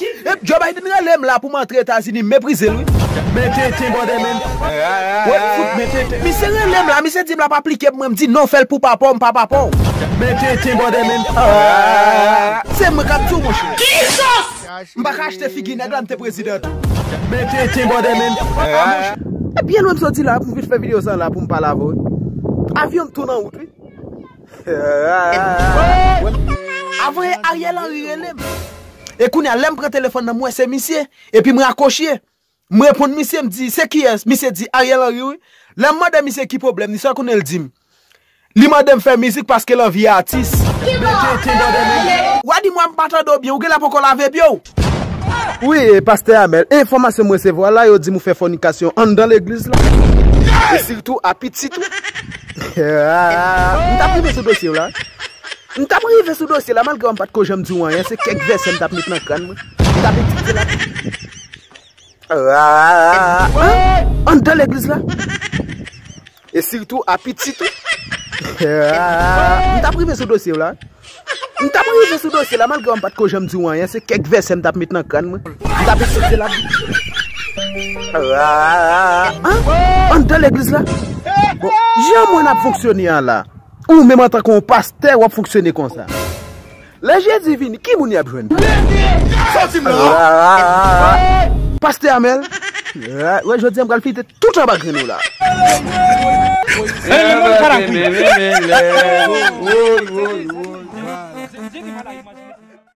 Ep Joe Biden rele m la pou m antre Etazini m meprize l wi. Men tenten bòdè menn. Wep fout men tenten. Misye rele m la misye di m lap aplike pou mwen m di non fè l pou papa w m pa papa w. Men tenten bòdè menn. Se mwen kap di w monchè. M pa ka achte figi nèg la m te prezidan tou. Men tenten bòdè menn. E byen lwen m soti la pou m vin fè video sa la pou m pale avè w. Avyon m tou nan wout wi. Avoye Ariel Henry rele m. E kounya lè m pran telefòn nan m wè se misye, epi m rakoche. M reponn misye m di se kiyès, misye di Ariel Henry wi. Lè m mande misye ki pwoblèm li, sa kounye l di m. Li mande m fè mizik paske l anvi atis. Mete tenbò nan men l. Wadi m wè m pa tande w byen, ou genlè poko lave pye w. Wi pastè Amel, enfòmasyon m resevwa la yo di m ou fè fònikasyon anndan legliz la e sitou a pitit ou. M tap rive sou dosye w la. M tap rive sou dosye la malgre w m pat ko janm di w anyen se kèk vèsè m tap met nan kran mwen. M tap etidye la tou. Anndan legliz la. E sitou a pitit ou. M tap rive sou dosye w la. M tap rive sou dosye la malgre m pat ko janm di w anyen se kèk vèsè m tap met nan kràn mwen. M tap eseye di l. Anndan legliz la. Bon jan mwen ap fonksyone an la. Ou menm antanke yon pastè w ap fonksyone konsa. Lè jezi vini ki moun yap jwenn pou yo. Pastè Amel wè jodia m pral fite tout anba grenn ou la.